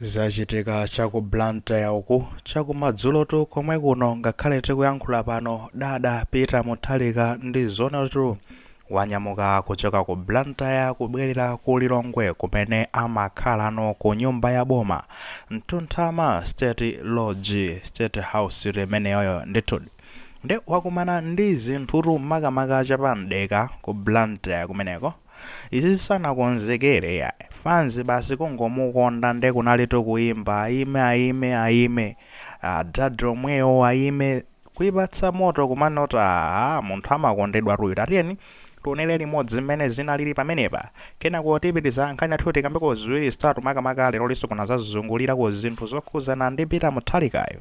Zachitika cha ku Blantyre uku chakumadzulotu komwe kuno ngakhale tikuyankhula pano adada Peter Mutharika ndi zoonatu wanyamuka kuchoka ku Blantyre kubwelera ku Lilongwe kumene amakhalano ku nyumba ya boma Mtunthama State Lodge State House tu imeneyoyo ndithudi nde wakumana ndi zinthutu makamaka cha pa Mdeka ku Blantyre kumeneko. Izizi sanakonzekere yayi fans basi kungomukonda nde kunalitu kuimba ayime ayime ayime adada omwewo ayime kuipatsa moto kumanena aah munthu amakondedwatu uyu tatiyeni tionere limodzi mmene zinalili pamenepa kenako tipitiriza nkhani yathu tikambeko ziwiri zitatu makamaka lerolinso kunazazungulira ku zinthu zokhuzana ndi Peter Muthalikayu.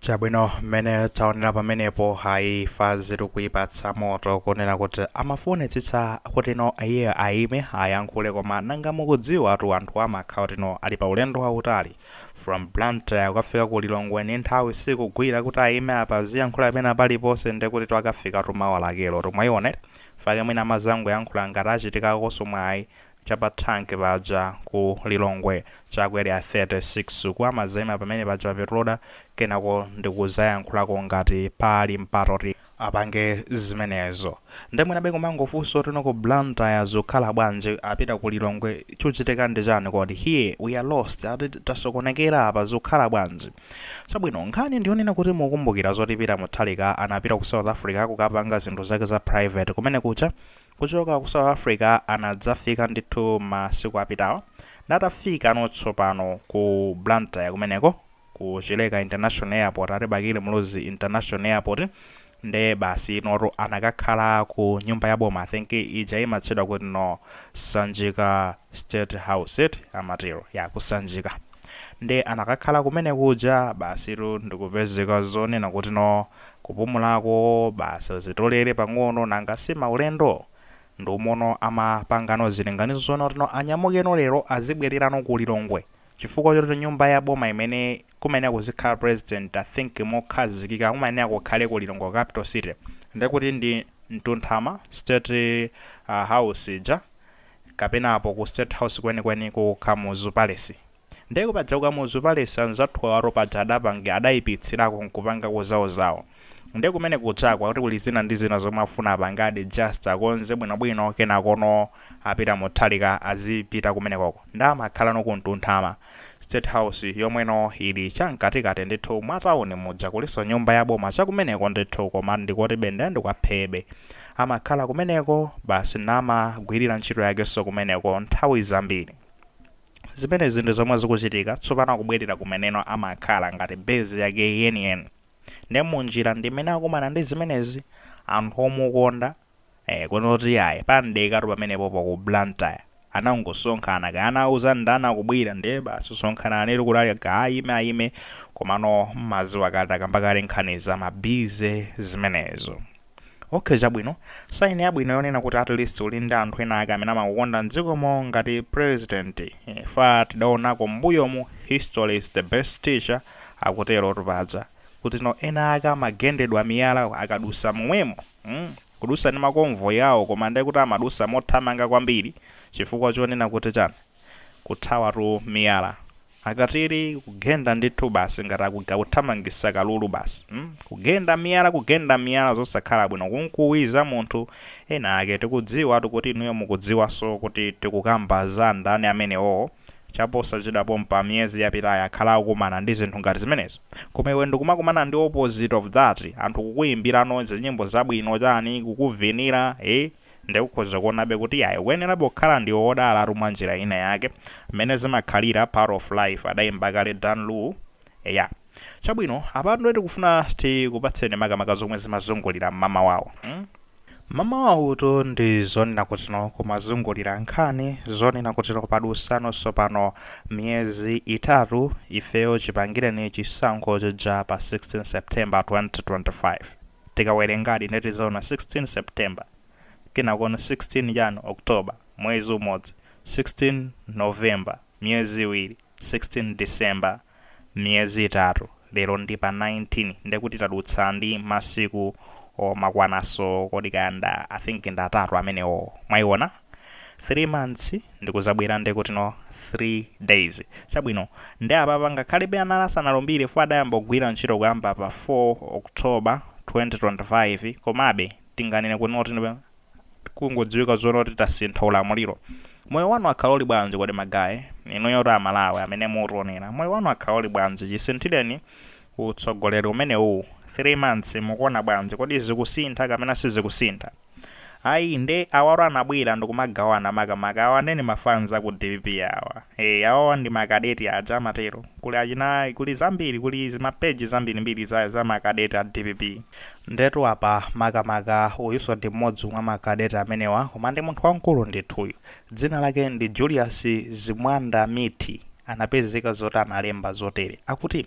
chabwino mmene taonera pamenepo hayi fans ikuyipatsa moto kunena kuti amafunitsitsa kuti no iye ayime ayankhule koma nanga mukudziwa tu anthu amakhala kuti no ali pa ulendo wautali From Blantyre kukafika ku Lilongwe nde nthawi sikugwira kuti ayime apa aziyankhula pena paliponse nde kutitu akafikatu mawa lakelotu mwayiona eti. Nchifukwa chake mwina adzangoyankhula ngati achitikakonso mwayi cha pa thanki paja ku Lilongwe cha ku area 36 uku amazayima pamene paja pa petroda kenako ndikuzayankhulako ngati pali mpata oti apange zimenezo nde mwinabe kumangofunsa oti no ku blantyre zukhala bwanji apita ku lilongwe chuchitika ndi chani kodi here we are lost ati tasokonekera apa zukhala bwanji chabwino nkhani ndiyonena kuti mukumbukira zoti Peter Mutharika anapita ku south africa kukapanga zinthu zake za private kumene kucha kuchoka ku south africa anadzafika ndithu masiku apitawa atafikano tsopano ku blantyre kumeneko ku Chileka International Airport ati Bakili Muluzi International Airport nde basi inotu anakakhala ku nyumba ya boma I think ija imatchedwa kuti no Sanjika State House eti amatero ya ku Sanjika nde anakakhala kumene kuja basitu ndikupezeka zonena kuti no kupumulako basi azitolere pang'ono nanga si maulendo nde umomono amapangano zilinganizono kuti no anyamukeno lero azibwererano ku Lilongwe chifukwa choti nyumba ya boma imene kumayenera kuzikhala president i think mokhazikika kumayenera kukhala ku Lilongwe capital city ndekuti ndi mtunthama state house ija kapena apo ku state house kwenikweni ku Kamuzu palace nde paja ku Kamuzu palace anzathu awotu paja adapangi adaipitsirako nkupangako zawo zawo nde kumene kujako akuti kuli zina ndi zina zomwe afuna apangadi just akonze bwinobwino kenakono a Peter Mutharika azipita kumenekoko. Nde amakhalano ku Mtunthama. State House yomweno ili cha mkatikati ndithu mwa town muja kuliso nyumba ya boma cha kumeneko ndithu koma ndikotibe nde ndikwaphebe. Amakhala kumeneko basi namagwirira ntchito yakeso kumeneko nthawi zambiri. Zimenezi ndi zomwe zikuchitika tsopano akubwerera kumeneno amakhala ngati base yake yeniyeni. Nde munjira ndimene akumana ndi zimenezi. Anthu omukonda. ee kunoti iyayi pa Ndekatu pamenepopo ku blantyre anangosonkhana kaya anawauza ndani akubwera ndiye basi sonkhananitu kuti ali aga ayime ayime komano mmaziwa kale takamba kale nkhani za ma busy zimenezo okay chabwino saini yabwino yonena kuti at least uli ndi anthu ena ake amene amakukonda mdzikomo ngati president ife tidaonako mbuyomu history is the best teacher akuterotu paja kuti no ena ake amagendedwa miyala akadusa momwemo mm kudusa ndi ma convoy awo koma nde kuti amadusa mothamanga kwambiri chifukwa chonena kuti chani kuthawatu miyala akatili kugenda ndithu basi ngati akuga kuthamangisa kalulu basi mm kugenda miyala kugenda miyala zosakhala bwino kunkuwiza munthu Ena ake tikudziwatu kuti inuyo mukudziwaso kuti tikukamba za ndani amenewowo. Chaposachedwa pompa miyezi yapitayi akhala akukumana ndi zinthu ngati zimenezo. Koma iwe ndikumakumana ndi opposite of that. Anthu kukuyimbirano zinyimbo zabwino chani, kukuvinira ee. Nde ukhoza kuonabe kuti iyayi ukuyenerabe kukhala ndiwe wodalatu mwanjira ina yake. Mmene zimakhalira part of life, adayimba kale Dan Lu. Eya. Chabwino, apatu ndiye tikufuna tikupatseni makamaka zomwe zimazungulira mmamawawu. Hmm? Mmamawawutu ndi zonena kuti no kumazungulira nkhani zonena kuti no padusano tsopano miyezi itatu ifeyo chipangireni chisankho chija pa 16 September 2025. Tikawerengadi ndiye tidzaona 16 September, kenakono 16 chani October, mwezi umodzi, 16 November, miyezi iwiri. 16 December miyezi itatu lero ndi pa 19 ndekuti tadutsa ndi masiku omakwananso kodi kaya nda I think ndi atatu amenewo mwaiona 3 months ndikuzabwera ndekutino 3 days chabwino nde apapa ngakhalebe anali asanalumbire chifukwa adayamba kugwira ntchito kuyamba pa 4 October 2025 komabe tinganene kutino kuti kungodziwika zoona kuti tasintha ulamuliro moyo wanu wakhala uli bwanji kodi magaye inuyotu amalawi amene mutionera moyo wanu wakhala uli bwanji chisinthireni utsogoleri umene uwu 3 months mukuona bwanji kodi zikusintha kapena sizikusintha ayi nde awaro anabwera ndikumagawana makamaka awa nde ndi ma fans a ku dpp awa e, awawa ndi makadeti aja amatero kuli achina kuli zambiri kuli mapeji zambirimbiri za, za makadeti a dpp Ndetu apa makamaka uyuso ndi mmodzi mwa ma cadet amenewa koma ndi munthu wamkulu ndithu uyu. Dzina lake ndi Julius Zimwanda Mithi anapezeka zoti analemba zotere akuti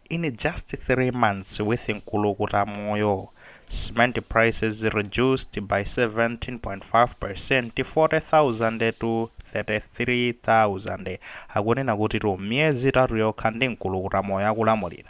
In just three months with Nkulukuta Moyo, cement prices reduced by 17.5%, 40,000 to 33,000. Akunena kutitu m'miyezi itatu yokha ndi Nkulukuta Moyo akulamulira.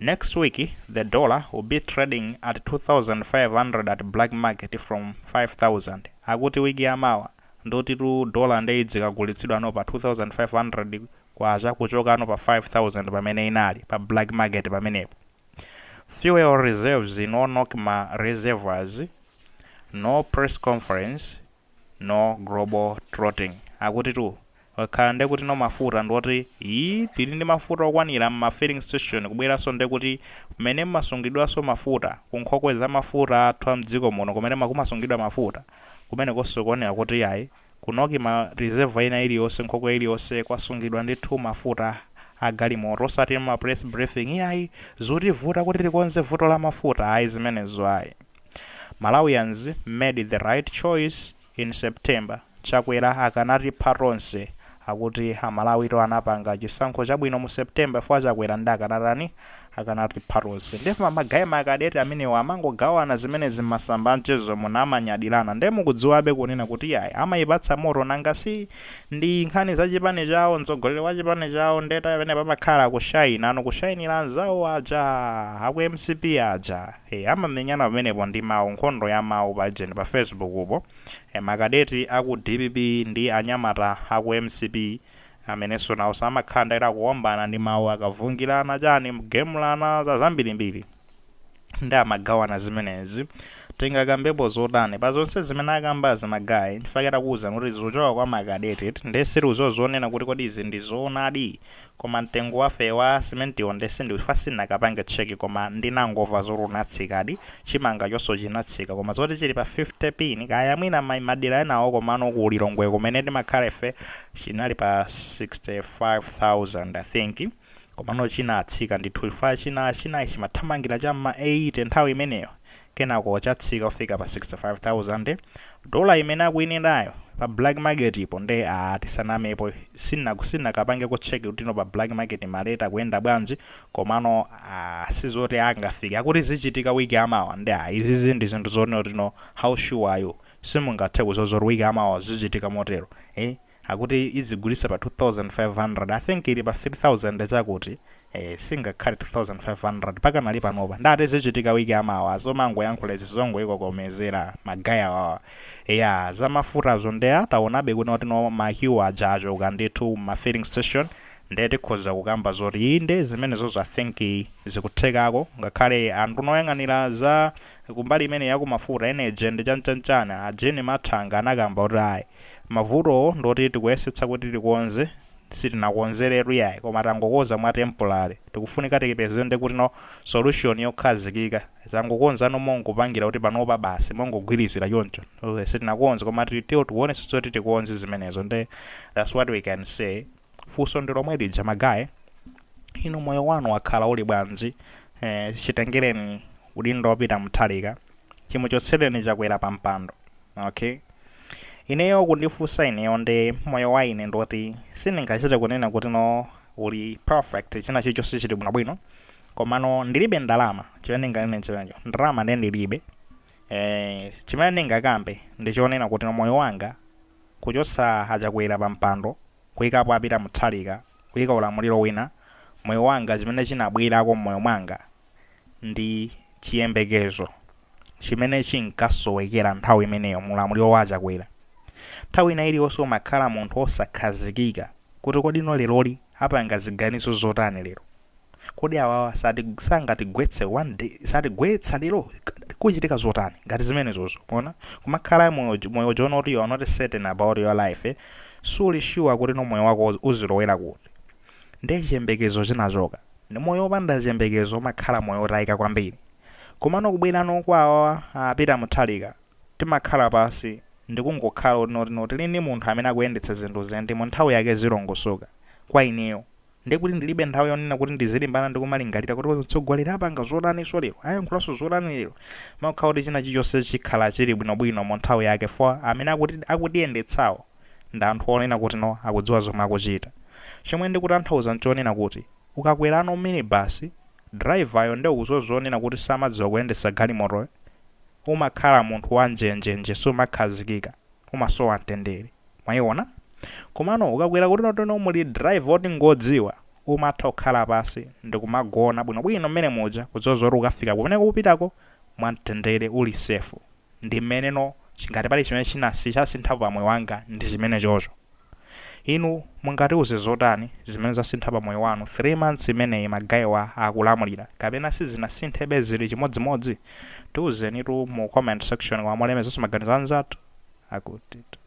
Next week the dollar will be trading at 2500 at black market from 5000 akuti week ya mawa ndotitu dollar nde idzikagulitsidwa no pa 2500 kwacha kuchoka no pa 5000 pamene inali pa black market pamenepo. Fuel reserves in Nocma reservoirs no press conference no global trotting akutitu Akhala nde kuti no mafuta ndioti ii tili ndi mafuta okwanira mma filling station kubweranso nde kuti kumene kumasungidwanso mafuta ku nkhokwe za mafuta athu a mdziko muno kumene kumasungidwa mafuta kumenekonso kuonera kuti yayi kunoki ma reservoir ina iliyonse nkhokwe iliyonse kwasungidwa ndithu mafuta a galimoto osati mma press briefing iyayi zutivuta kuti tikonze vuto la mafuta ayi zimenezo ayi Malawians made the right choice In September, Chakwera akanatipha tonse. Akuti a Malawi to anapanga chisankho chabwino mu September chifukwa Chakwera nde akanatani? Akanatipha tonse. Nde ife ma guy ma cadet amenewa amangogawana zimenezi mmasamba amchezomu nkumanyadirana. Nde mukudziwabe kunena kuti yayi amayipatsa moto nanga si ndi nkhani za chipani chawo, mtsogoleri wa chipani chawo nde pamenepa amakhala akushaina no kushainira anzawo aja aku mcp aja. Eee amamenyana pamenepo ndi mau, nkhondo ya mau pajeni pa Facebook'po. Eee ma cadet a ku dpp ndi anyamata a ku mcp amenenso naonso amakhala ndithu akuombana ndi mau akavungirana chani kugemulana za zambirimbiri nde amagawana zimenezi. Tingakambepo zotani pa zonse zimene akambazi ma guy? Nchifukwa chake takuuzani kuti zikuchoka kwa ma cadet nde sitikuziwa zonena kuti kodi izi ndi zoonadi Koma mtengo wafe wa simentiwo nde sindi chifukwa sinakapange check koma ndinangova zoti unatsikadi, chimanga chonso chinatsika koma zoti chili pa 50 pin kaya mwina mmadera enawo komano ku Lilongwe kumene timakhala ife chinali pa 65000 I think komano chinatsika ndithu chifukwa china china chimathamangira cha mma 80 nthawi imeneyo kenako chatsika kufika pa 65,000 dola imene akuinenayo pa black market po nde aah tisanamepo sina sinakapangeko check kuti no pa black market ma rate akuyenda bwanji komano aah sizoti angafike akuti zichitika week yamawa nde aah izizi ndi zinthu zonena kuti no how sure are you simungathe kuziwa zoti week yamawa zichitika motero eeh Akuti izigulisa pa 2500 I think ili pa 3000 chakuti ee singakhale 2500 ikanali panopa nde ati zichitika week yamawa zomangoyankhula izi zongoyikokomezera ma guy awawa zamafutazo nde aa tawonabe kuti notino ma queue aja achoka ndithu mma filling station nde tikhoza kukamba zoti inde zimenezozo I think zikuthekako ngakhale anduna oyang'anira za kumbali imeneyi yakumafuta energy and chanchanchani a Jean Mathanga anakamba kuti ayi Mavutowo ndi oti tikuyesetsa kuti tikonze sitinakonzeretu yayi koma tangokonza mwa temporary tikufunika tipeze ndi kuti no solution yokhazikika tangokonzano mongopangira kuti panopa basi mongogwirizira choncho sitinakonze koma still tikuonetsetsa kuti tikonze zimenezo nde that's what we can say. Funso ndi lomwe lija ma guy, inu moyo wanu wakhala uli bwanji? Eh, chitengereni udindo a Peter Mutharika, chimuchotsereni Chakwera pa mpando. Okay? Ineyo kundifunsa ineyo nde moyo wa ine ndoti sindingachite kunena kuti no uli perfect china chilichonse chili bwinobwino komano ndilibe ndalama chimene ndinganene chimenecho ndalama nde ndilibe eh, chimene ndingakambe ndi chonena kuti no moyo wanga Kuchotsa a Chakwera pa mpando, kuikapo a Peter Mutharika, kuika ulamuliro wina, moyo wanga, chimene chinabwerako m'moyo mwanga ndi chiyembekezo chimene chinkasowekera nthawi imeneyo mu ulamuliro wa a Chakwera. Nthawi ina iliyonse umakhala munthu osakhazikika kuti kodi no leroli apanga ziganizo zotani lero? Kodi awawa sati sangatigwetse one day satigwetsa lero kuchitika zotani ngati zimenezozo mwaona kumakhala moyo moyo oti you are not certain about your life eh? suli sure kuti no moyo wako uz- uzilowera kuti ndiye chiyembekezo chinachoka Ndi moyo opanda chiyembekezo umakhala moyo otayika kwambiri komano kubwerano kwa awawa a Peter Mutharika timakhala pansi ndikungokhala kuti noti noti tili ndi munthu amene akuyendetsa zinthu ndipo mu nthawi yake zilongosoka kwa ineyo Ndi kuti ndilibe nthawi yonena kuti ndizilimbana ndi kumalingalira kuti mtsogoleri apanga zotaninso lero, ayankhulanso zotani lero. Umakhala oti china chilichonse chikhala chili bwinobwino mu nthawi yake chifukwa amene akutiyendetsawo ndi anthu onena kuti no akudziwa zomwe akuchita. Chomwe ndikutanthauza nchonena kuti ukakwerano minibus, driver yo nde ukuziwa zonena kuti samadziwa kuyendetsa galimotoyo, umakhala munthu wa njenjenje sumakhazikika. umasowa mtendere mwaiona komano ukakwera kuti notono muli driver oti ngodziwa umatha kukhala pansi ndikumagona bwinobwino mmene muja kudziwa zoti ukafika kumene ukupitako mwamtendere uli safe ndimmeneno ngati pali chimene chasinthapo pamoyo wanga ndichimenechocho. Inu mungatiuze zotani zimene zasintha pa moyo wanu 3 months imeneyi ma guy wa akulamulira? Kapena sizinasinthebe zili chimodzimodzi? Tiuzenitu mu comment section umu mulemekezenso maganizo a anzathu. Akuti.